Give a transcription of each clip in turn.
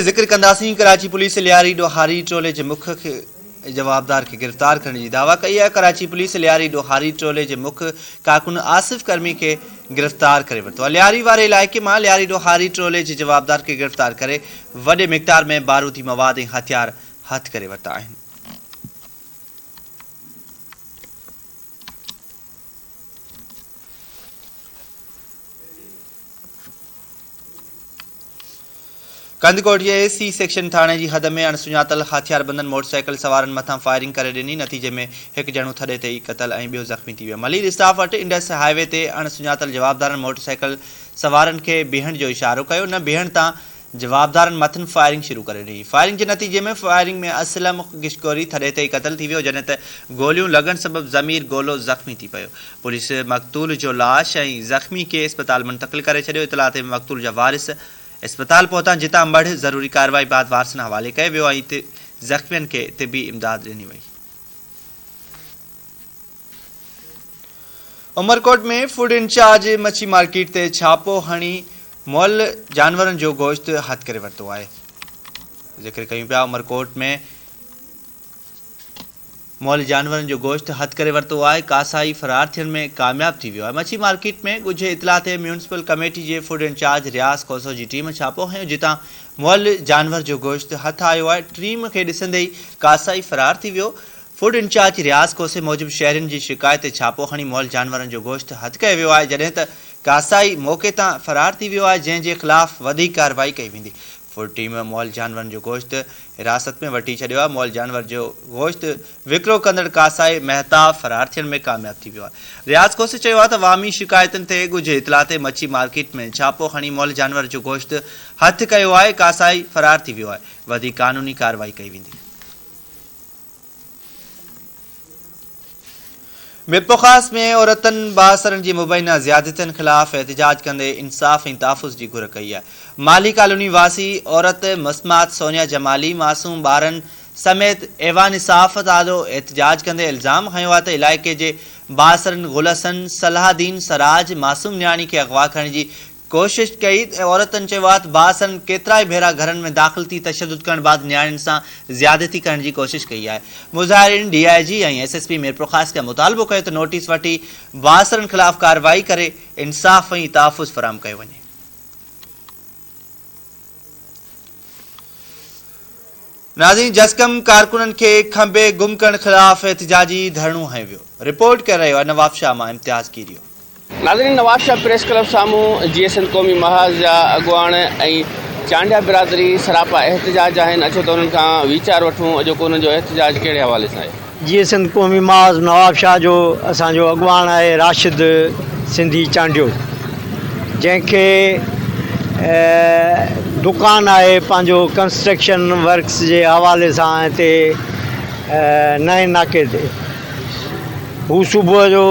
ذڪر ڪنداسين ڪراچي پوليس لياري ڏوهاري ٽولي جي مک جوابدار کي گرفتار ڪرڻ جي دعويٰ ڪئي آهي ڪراچي پوليس لياري ڏوهاري ٽولي جي مک ڪارڪن آصف ڪرمي کي گرفتار ڪري ورتو آهي لياري واري علائقي مان لياري ڏوهاري ٽولي جي جوابدار کي گرفتار ڪري وڏي مقدار ۾ بارودي مواد ۽ هٿيار هٿ ڪري ورتا آهن ڪنڌڪوٽ جي اي سي سيڪشن ٿاڻي جي حد ۾ اڻسڃاتل هٿياربندن موٽرسائيڪل سوارن مٿان فائرنگ ڪري ڏني، نتيجي ۾ هڪ ڄڻو ٿڏي تي ئي قتل ۽ ٻيو زخمي ٿي ويو. ملير اسٽاف اٺ انڊس هاء وي تي اڻسڃاتل جوابدارن موٽرسائيڪل سوارن کي بيهڻ جو اشارو ڪيو، نه بيهڻ تان جوابدارن مٿن فائرنگ شروع ڪري ڏني، فائرنگ جي نتيجي ۾ فائرنگ ۾ اسلم گشڪوري ٿڏي تي ئي قتل ٿي ويو جڏهن ته گوليون لڳڻ سبب ضمير گولو زخمي ٿي پيو، پوليس مقتول جو لاش ۽ زخمي کي اسپتال منتقل ڪري ڇڏيو، اطلاع تي مقتول جا وارث اسپتال پهتا جتان مڙهه ضروري ڪارروائي بعد وارثن حوالي ڪيو ويو ۽ زخمين کي طبي امداد ڏني وئي. عمرڪوٽ ۾ فوڊ انچارج مڇي مارڪيٽ تي ڇاپو هڻي مئل جانورن جو گوشت هٿ ڪري ورتو آهي ذڪر ڪيون پيا عمرڪوٽ ۾ مئل جانورن جو گوشت هٿ ڪري ورتو آهي ڪاسائي فرار ٿيڻ ۾ ڪامياب ٿي ويو آهي مڇي مارڪيٽ ۾ ڳجهي اطلاع تي ميونسپل ڪميٽي جي فوڊ انچارج رياض کوسو جي ٽيم ڇاپو هنيو جتان مئل جانور جو گوشت هٿ آيو آهي ٽيم کي ڏسندي ئي ڪاسائي فرار ٿي ويو فوڊ انچارج رياض کوسي موجب شهرين جي شڪايت تي ڇاپو کڻي مئل جانورن جو گوشت هٿ ڪيو ويو آهي جڏهن ته ڪاسائي موقعي تان فرار ٿي ويو آهي جنهن جي خلاف وڌيڪ ڪارروائي ڪئي ويندي فوڊ ٽيم مئل جانورن جو گوشت حراست ۾ وٺي ڇڏيو آهي مئل جانور جو گوشت وڪرو ڪندڙ ڪاسائي مهتاب فرار ٿيڻ ۾ ڪامياب ٿي ويو آهي رياض کوسي چيو آهي ته عوامي شڪايتن تي ڳجهي اطلاع تي مڇي مارڪيٽ ۾ ڇاپو کڻي مئل جانور جو گوشت هٿ ڪيو آهي ڪاسائي فرار ٿي ويو آهي وڌيڪ قانوني ڪارروائي ڪئي ويندي. ميرپورخاص ۾ عورتن بااثرن جي مبينا زيادتين خلاف احتجاج ڪندي انصاف ۽ تحفظ جي گهر ڪئي آهي. مالهي ڪالوني واسي عورت مسمات سونيا جمالي معصوم ٻارن سميت ايوان صحافت آڏو احتجاج ڪندي الزام هنيو آهي ته علائقي جي بااثرن گل حسن، صلاح الدين، سراج، معصوم نياڻي کي اغوا ڪرڻ جي ڪوشش ڪئي ۽ عورتن چيو آهي ته باسن ڪيترائي ڀيرا گهرن ۾ داخل ٿي تشدد ڪرڻ بعد نياڻين سان زيادتي ڪرڻ جي ڪوشش ڪئي آهي مظاهرين D I G ۽ S S P Mirpurkhas کان مطالبو ڪيو ته نوٽيس وٺي باسرن خلاف ڪارروائي ڪري انصاف ۽ تحفظ فراهم ڪيو وڃي. ناظرين جسقم ڪارڪنن کي کنڀي گم ڪرڻ خلاف احتجاجي ڌرڻو هنيو ويو، رپورٽ ڪري رهيو آهي نوابشاهه مان امتياز ڪيريو. ناظرين نوابشاهه پريس ڪلب سامهون جيئي سنڌ قومي محاذ جا اڳواڻ ۽ چانڊيا برادري سراپا احتجاج جا آهن اچو ته انهن کان ويچار وٺون اڄوڪو انهن جو احتجاج ڪهڙي حوالي سان آهي. جيئي سنڌ قومي محاذ نواب شاهه جو اسان جو اڳواڻ آهي راشد سنڌي چانڊيو جنهن کي دڪان آهي پنهنجو ڪنسٽرڪشن ورڪس جي حوالي سان هتي نئين ناڪي تي هو صبح جو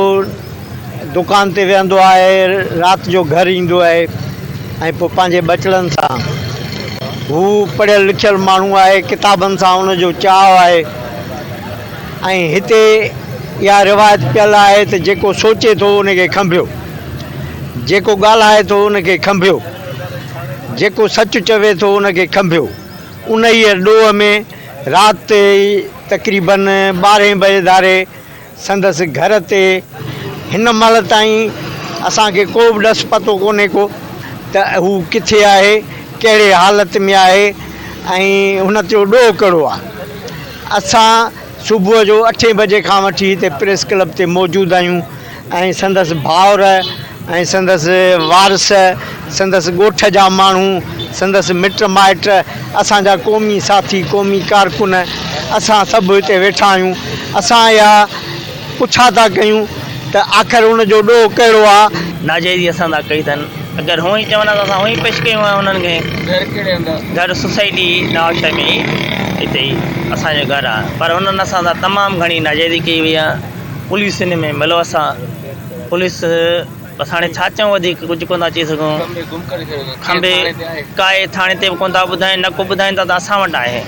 دڪان تي ويهندو آهي رات جو گهر ايندو آهي ۽ پوء پنهنجي ٻچڙن سان هو پڙهيل لکيل ماڻهو آهي ڪتابن سان ان جو چاهه آهي ۽ هتي اها روايت پيل آهي ته جيڪو سوچي ٿو ان کي کنڀيو، جيڪو ڳالهائي ٿو ان کي کنڀيو، جيڪو سچ چوي ٿو ان کي کنڀيو. انهيء ڏوهه ۾ رات تي تقريبن ٻارهين بجي ڌاري سندس گهر تي هن مهل تائين اسان کي ڪو به ڏس پتو ڪونهي ڪو ته هو ڪٿي آهي، ڪهڙي حالت ۾ آهي ۽ هن تيو ڏوهه ڪهڙو آهي. اسان صبح جو اٺين بجي کان وٺي هتي پريس ڪلب تي موجود آهيون ۽ سندس ڀائر ۽ سندس وارث، سندس ڳوٺ جا ماڻهو، سندس مٽ مائٽ، اسان جا قومي ساٿي، قومي ڪارڪن، اسان سڀ هتي ويٺا آهيون. اسان اها پڇا ٿا ڪيون ته آخر ان جو ڏوهه ڪهڙو آ؟ ناجائزي اسان سان ڪئي اٿن، اگر هونئن چون ها ته اسان هونئن پيش ڪيون ها انهن کي. گهر ڪهڙي هنڌ آ؟ گهر سوسائٽي نوابشاهي ۾ ئي هتي ئي اسان جو گهر آ، پر هنن اسان سان تمام گهڻي ناجائزي ڪئي وئي آ، پوليس ان ۾ ملوث آ. پوليس بس هاڻي ڇا چئون وڌيڪ ڪجهه ڪونه ٿا چئي سگهون کنڀي ڪائي ٿاڻي تي به ڪونه ٿا ٻڌائين نه ڪو ٻڌائين ٿا ته اسان وٽ آهي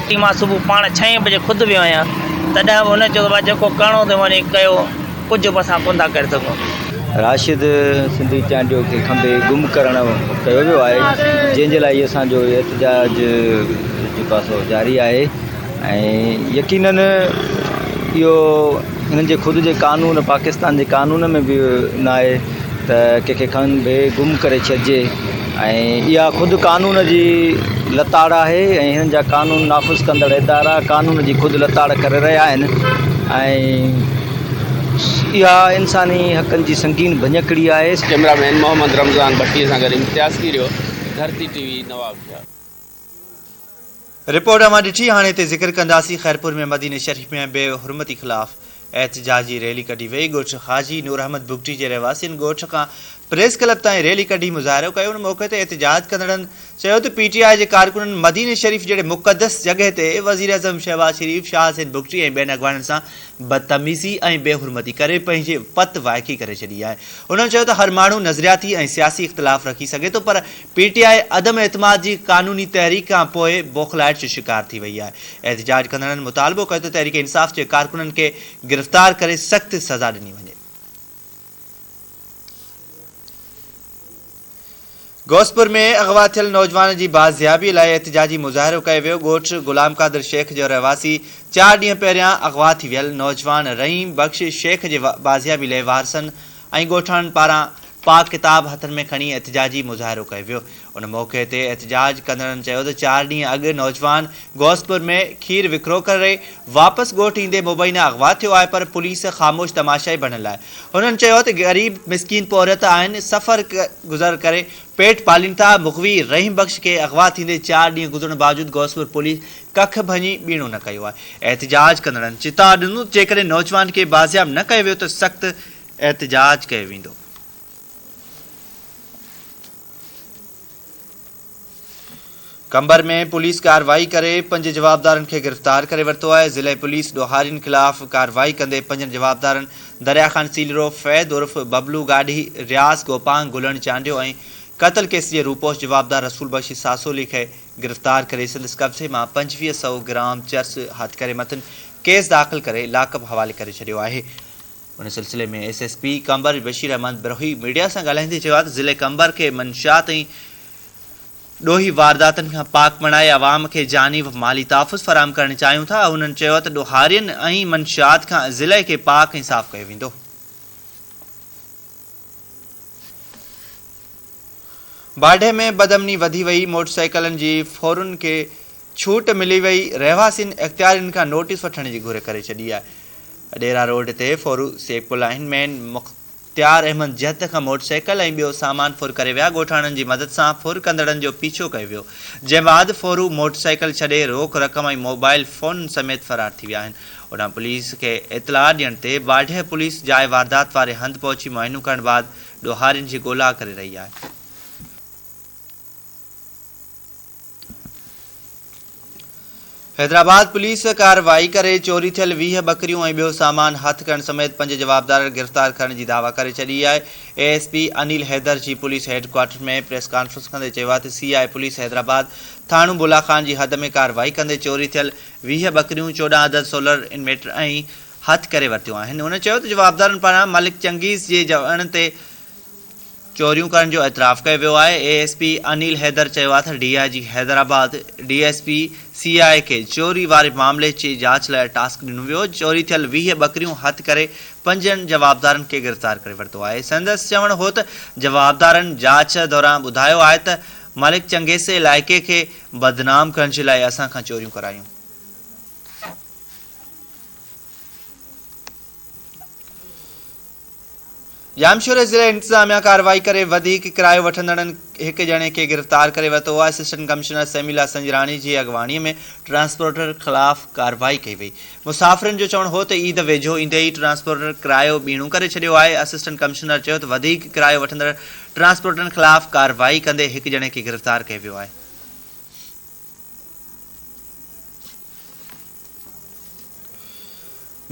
ٽي مان صبح پاڻ ڇهين بجي خود ويو آهيان تڏهن به هن چيو ته جيڪو ڪرڻو اٿئي وڃي ڪيو ڪجهه به اسان ڪونه ٿا ڪري سگهون راشد سنڌي چانڊيو کي کنڀي گم ڪرڻ ڪيو ويو آهي جنهن جي لاء اسان جو احتجاج جي پاسو جاري آهي ۽ يقينن اهو هنن جي خود جي قانون پاڪستان جي قانون ۾ به ناهي ته ڪنهن کي کڻ به گم ڪري ڇڏجي ۽ اها خود قانون جي لتاڙ آهي ۽ هنن جا قانون نافذ ڪندڙ ادارا قانون جي خود لتاڙ ڪري رهيا آهن ۽ اها انساني حقن جي سنگين ڀڃڪڙي آهي. ڪيمرا مين محمد رمضان ڀٽي سان گڏ Imtiaz Kerio, Dharti T V, Nawabshah. Report اوهان ڏٺي، هاڻي هتي ذڪر ڪنداسين، خيرپور ۾ مديني شريف ۾ بي حرمتي خلاف احتجاجي ريلي ڪڍي وئي، ڳوٺ حاجي نور احمد بگٽي جي رهواسين ڳوٺ کان پريس ڪلب تائين ريلي ڪڍي مظاهرو ڪيو، ان موقعي تي احتجاج ڪندڙن چيو ته پي ٽي آء جي ڪارڪنن مديني شريف جهڙي مقدس جڳهه تي وزيراعظم شهباز شريف، شاهه حسين بگٽي ۽ ٻين اڳواڻن سان بدتميزي ۽ بي حرمتي ڪري پنهنجي وت وائکي ڪري ڇڏي آهي، انهن چيو ته هر ماڻهو نظرياتي ۽ سياسي اختلاف رکي سگهي ٿو پر پي ٽي آء عدم اعتماد جي قانوني تحريڪ کان پوء بوکلائٽ جو شڪار ٿي وئي آهي، احتجاج ڪندڙن مطالبو ڪيو ته تحريڪ انصاف جي ڪارڪنن کي گرفتار ڪري سخت سزا ڏني وڃي. غوثپور ۾ اغوا ٿيل نوجوان جي بازيابي لاء احتجاجي مظاهرو ڪيو ويو، ڳوٺ غلام قادر شيخ جو رهواسي چار ڏينهن پهريان اغوا ٿي ويل نوجوان رحيم بخش شيخ جي بازيابي لاء وارثن ۽ ڳوٺاڻن پاران پاڪ ڪتاب هٿن ۾ کڻي احتجاجي مظاهرو ڪيو ويو ان موقعي تي احتجاج ڪندڙن چيو ته چار ڏينهن اڳ نوجوان غوثپور ۾ کير وڪرو ڪري واپس ڳوٺ ايندي مبينا اغوا ٿيو آهي پر پوليس خاموش تماشائي بڻيل آهي هنن چيو ته غريب مسڪين پورهيت آهن سفر گذر ڪري پيٽ پالين ٿا مغوي رحيم بخش کي اغوا ٿيندي چار ڏينهن گذرڻ باوجود غوثپور پوليس ڪک ڀڃي ٻيڻو نه ڪيو آهي احتجاج ڪندڙن چتاء ڏنو ته جيڪڏهن نوجوان کي بازياب نه ڪيو ويو ته سخت احتجاج ڪيو ويندو. قمبر ۾ پوليس ڪارروائي ڪري پنج جوابدارن کي گرفتار ڪري ورتو آهي، ضلعي پوليس ڏوهارين خلاف ڪارروائي ڪندي پنجن جوابدارن دريا خان سيلرو، فيض عرف ببلو گاڏهي، رياض گوپانگ گلڻ چانڊيو ۽ قتل ڪيس جي روپوش جوابدار رسول بخش ساسولي کي گرفتار ڪري سندس قبضي مان پنجويهه سئو گرام چرس هٿ ڪري مٿن ڪيس داخل ڪري لاڪ اپ حوالي ڪري ڇڏيو آهي. ان سلسلي ۾ S S P Qambar Bashir Ahmed Brohi media سان ڳالهائيندي چيو آهي ته ضلعي قمبر کي منشيات ۽ ڏوهي وارداتن کان پاڪ بڻائي عوام کي جاني و مالي تحفظ فراهم ڪرڻ چاهيون ٿا هنن چيو ته ڏوهارين ۽ منشيات کان ضلعي کي پاڪ ۽ صاف ڪيو ويندو. باڊهه ۾ بدامني وڌي وئي، موٽرسائيڪلن جي ڦورن کي ڇوٽ ملي وئي، رهواسين اختيارين کان نوٽيس وٺڻ جي گهر ڪري ڇڏي آهي. اڏيرا روڊ تي ڦر سيڪ لاهين مين مختيار احمد جهت کان موٽر سائيڪل ۽ ٻيو سامان ڦر ڪري ويا، ڳوٺاڻن جي مدد سان ڦر ڪندڙن جو پيڇو ڪيو ويو، جنهن بعد ڦر موٽر سائيڪل ڇڏي روڪ رقم ۽ موبائيل فونن سميت فرار ٿي ويا آهن، اوڏانهن پوليس کي اطلاع ڏيڻ تي واڍيء پوليس جاء واردات واري هنڌ پهچي معائنو ڪرڻ بعد ڏوهارين جي ڳولا ڪري رهي آهي. حيدرآباد پوليس ڪارروائي ڪري چوري ٿيل ويهه ٻڪريون ۽ ٻيو سامان هٿ ڪرڻ سميت پنج جوابدار گرفتار ڪرڻ جي دعويٰ ڪري ڇڏي آهي A S P Anil Haider جي police headquarter ۾ press conference ڪندي چيو آهي ته سي آء پوليس حيدرآباد ٿاڻو بولا خان جي حد ۾ ڪارروائي ڪندي چوري ٿيل ويهه ٻڪريون چوڏهن عدد سولر انويٽر ۽ هٿ ڪري ورتيون آهن هن چيو ته جوابدارن پاران ملڪ چنگيز جي جوڻ تي چوريون ڪرڻ جو اعتراف ڪيو ويو آهي، A S P Anil Haider چيو آهي ته D I G Hyderabad D S P C I A کي چوري واري معاملي جي جاچ لاء ٽاسڪ ڏنو ويو، چوري ٿيل ويهه ٻڪريون هٿ ڪري پنجن جوابدارن کي گرفتار ڪري ورتو آهي، سندس چوڻ هو ته جوابدارن جاچ دوران ٻڌايو آهي ته ملڪ چنگيزي علائقي کي بدنام ڪرڻ جي لاء اسان کان چوريون ڪرايون. ڄامشوري ضلعي انتظاميا ڪارروائي ڪري وڌيڪ ڪرايو وٺندڙن هڪ ڄڻي کي گرفتار ڪري ورتو آهي اسسٽنٽ ڪمشنر سيميلا سنجراڻي جي اڳواڻي ۾ ٽرانسپورٽر خلاف ڪارروائي ڪئي وئي مسافرن جو چوڻ هو ته عيد ويجهو ايندي ئي ٽرانسپورٽر ڪرايو ٻيڻو ڪري ڇڏيو آهي اسسٽنٽ ڪمشنر چيو ته وڌيڪ ڪرايو وٺندڙ ٽرانسپورٽرن خلاف ڪارروائي ڪندي هڪ ڄڻي کي گرفتار ڪيو ويو آهي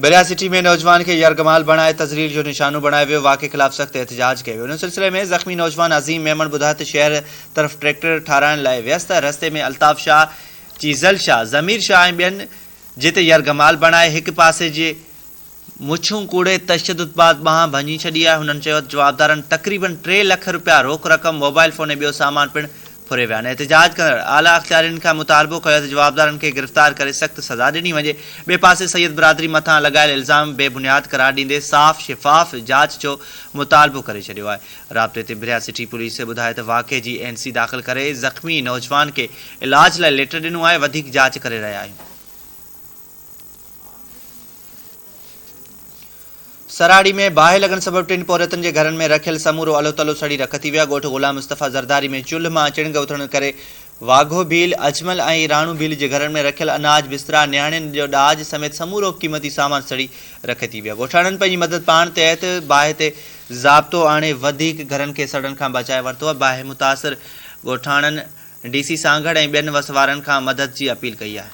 بريا سٽي ۾ نوجوان کي يرغمال بڻائي تذليل جو نشانو بڻايو ويو واقعي خلاف سخت احتجاج ڪيو ويو ان سلسلي ۾ زخمي نوجوان عظيم ميمڻ ٻڌايو ته شهر طرف ٽريڪٽر ٺاراهڻ لاء ويس ته رستي ۾ الطاف شاهه چيزل شاهه ضمير شاهه ۽ ٻين جتي يرغمال بڻائي هڪ پاسي جي مڇون ڪوڙي تشدد بعد ٻانهن ڀڃي ڇڏي آهي، هنن چيو ته جوابدارن تقريبن ٽي لک رپيا روڪ رقم، موبائل فون ۽ ٻيو سامان پڻ ڦري ويا آهن، احتجاج ڪندڙ اعليٰ اختيارين کان مطالبو ڪيو ته جوابدارن کي گرفتار ڪري سخت سزا ڏني وڃي، ٻئي پاسي سيد برادري مٿان لڳايل الزام بي بنياد قرار ڏيندي صاف شفاف جاچ جو مطالبو ڪري ڇڏيو آهي، رابطي تي بريا سٽي پوليس ٻڌائي ته واقعي جي اين سي داخل ڪري زخمي نوجوان کي علاج لاء ليٽر ڏنو آهي، وڌيڪ جاچ ڪري رهيا آهيون. سراڙي ۾ باهه لڳڻ سبب ٽن پورهيتن جي گهرن ۾ رکيل سمورو الو تلو سڙي رک ٿي ويا، ڳوٺ غلام مصطفيٰ زرداري ۾ چلهه مان چڻگ اٿڻ ڪري واگهو ڀيل، اجمل ۽ راڻو ڀيل جي گهرن ۾ رکيل اناج، بسترا، نياڻين جو ڏاج سميت سمورو قيمتي سامان سڙي رک ٿي ويا. ڳوٺاڻن پنهنجي مدد پاڻ تحت باهه تي ضابطو آڻي وڌيڪ گهرن کي سڙڻ کان بچائي ورتو آهي، باهه متاثر ڳوٺاڻن ڊي سي سانگهڙ ۽ ٻين وس وارن کان مدد جي اپيل ڪئي آهي.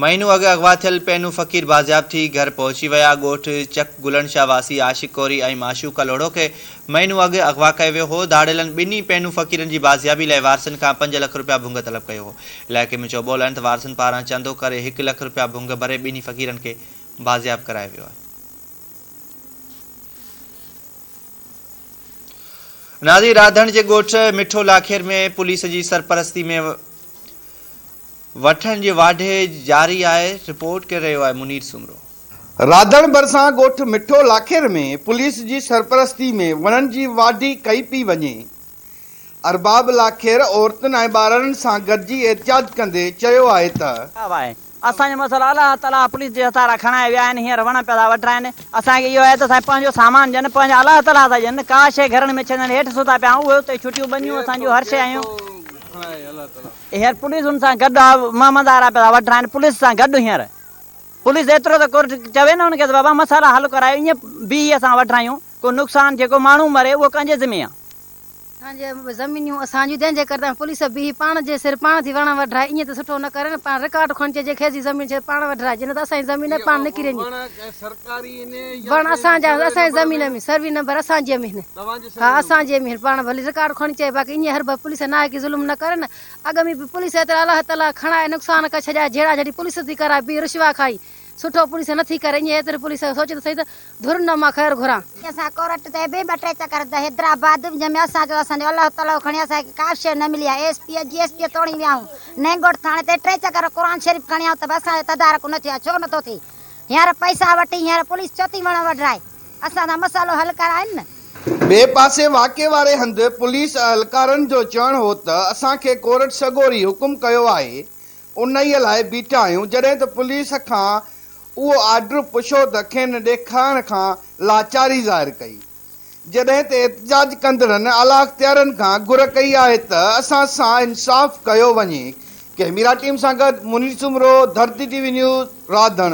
مهينو اڳ اغوا ٿيل پينو فقير بازياب ٿي گهر پهچي ويا. ڳوٺ چڪ گلڻ شاهه واسي عاشق ڪوري ۽ معشوقه لوڙهو کي مهينو اڳ اغوا ڪيو ويو هو. ڌاڙيلن ٻنهي پينو فقيرن جي بازيابي لاء وارثن کان پنج لک رپيا ڀونگ طلب ڪيو هو. علائقي ۾ چوٻول آهن ته وارثن پاران چندو ڪري هڪ لک رپيا ڀونگ ڀري ٻنهي فقيرن کي بازياب ڪرايو ويو آهي. نازي راڌڻ جي ڳوٺ مٺو لاکير ۾ پوليس جي سرپرستي ۾ وٺن جي واڍي جاري آهي رپورٽ ڪري رهيو آهي منير سومرو. راڌڻ ڀرسان ڳوٺ مٺو لاکير ۾ پوليس جي سرپرستي ۾ وڻن جي واڍي ڪئي پئي وڃي، ارباب لاکير عورتن ۽ ٻارڙن سان گڏجي احتجاج ڪندي چيو آهي ته. اسان جو مسئلو الله تعاليٰ پوليس جي هٿان را کڻائي ويا آهن هينئر وڻ پيا ٿا وڍرائين اسان کي اهو آهي ته اسان کي پنهنجو سامان ڏين پنهنجا الله تعاليٰ ٿا ڏين ڪا شيء گهرڻ ۾ ڇڏڻ هيٺ ستا پيا آهيون اهي اتي ڇٽيون ٻنيون اسان جون هر شيء آهيون هينئر پوليس ان سان گڏ آهي محمد آرا پيا ٿا وڍرائين پوليس سان گڏ هينئر پوليس ايترو ته ڪورٽ چوي نه ان کي ته بابا مسئلا حل ڪرايو ائين بيهي اسان وڍرايون. ڪو نقصان جيڪو ماڻهو مري اهو ڪنهن جي ذمي آ؟ اسان جي زمينيون اسان جون تنهن جي ڪري ته پوليس بيهي پاڻ جي سر پاڻ ٿي وڻ وڍرائي ايئن ته سٺو نه ڪري نه پاڻ رڪارڊ کڻي چئي جي کيس جي زمين ڇڏ پاڻ وڍرائي جي نه ته اسان جي زمين نه پاڻ نڪري ويندي وڻ اسان جا اسان جي زمين ۾ سروي نمبر اسان جي مهن ها اسان جي مهن پاڻ ڀلي رڪارڊ کڻي چئي باقي ايئن هر ڀل پوليس نه آهي ڪي ظلم نه ڪري نه اڳ ۾ به پوليس ايترا الله تعالي کڻائي نقصان ڪري ڇڏيا جهيڙا جهڙي پوليس ٿي ڪرائي بي رشوا کائي سٺو پوليس نٿي ڪري ائين هيتري پوليس سوچي ته سهي ته ڌر نه مان خير گهران. اسان ڪورٽ تي به ٻه ٽي چڪر هنڌا حيدرآباد جنهن ۾ اسان جو اسان جو الهو تلهو کڻي اسان کي ڪابه شيء نه ملي آهي ايس پي جي ايس پي توڻي وياهون نئنگوٽ ٿاڻي تي ٽي چڪر قرآن شريف کڻي آئون ته به اسان جو تدارڪ نه ٿيو آهي ڇو نٿو ٿئي هينئر پئسا وٺي هينئر پوليس ڇو ٿي وڻ وڍرائي اسان سان مسئلو حل ڪرائين نه. ٻئي پاسي واقعي واري هنڌ پوليس اهلڪارن جو چوڻ هو ته اسان کي ڪورٽ سڳوري حڪم ڪيو آهي انهيء لاء بيٺا آهيون، جڏهن ته پوليس کان اهو آرڊر پڇو ته کين ڏيکارڻ کان لاچاري ظاهر ڪئي. جڏهن ته احتجاج ڪندڙن اعليٰ اختيارين کان گهر ڪئي آهي ته اسان سان انصاف ڪيو وڃي. ڪئميرا ٽيم سان گڏ Munir Soomro, Dharti T V news, Radhan.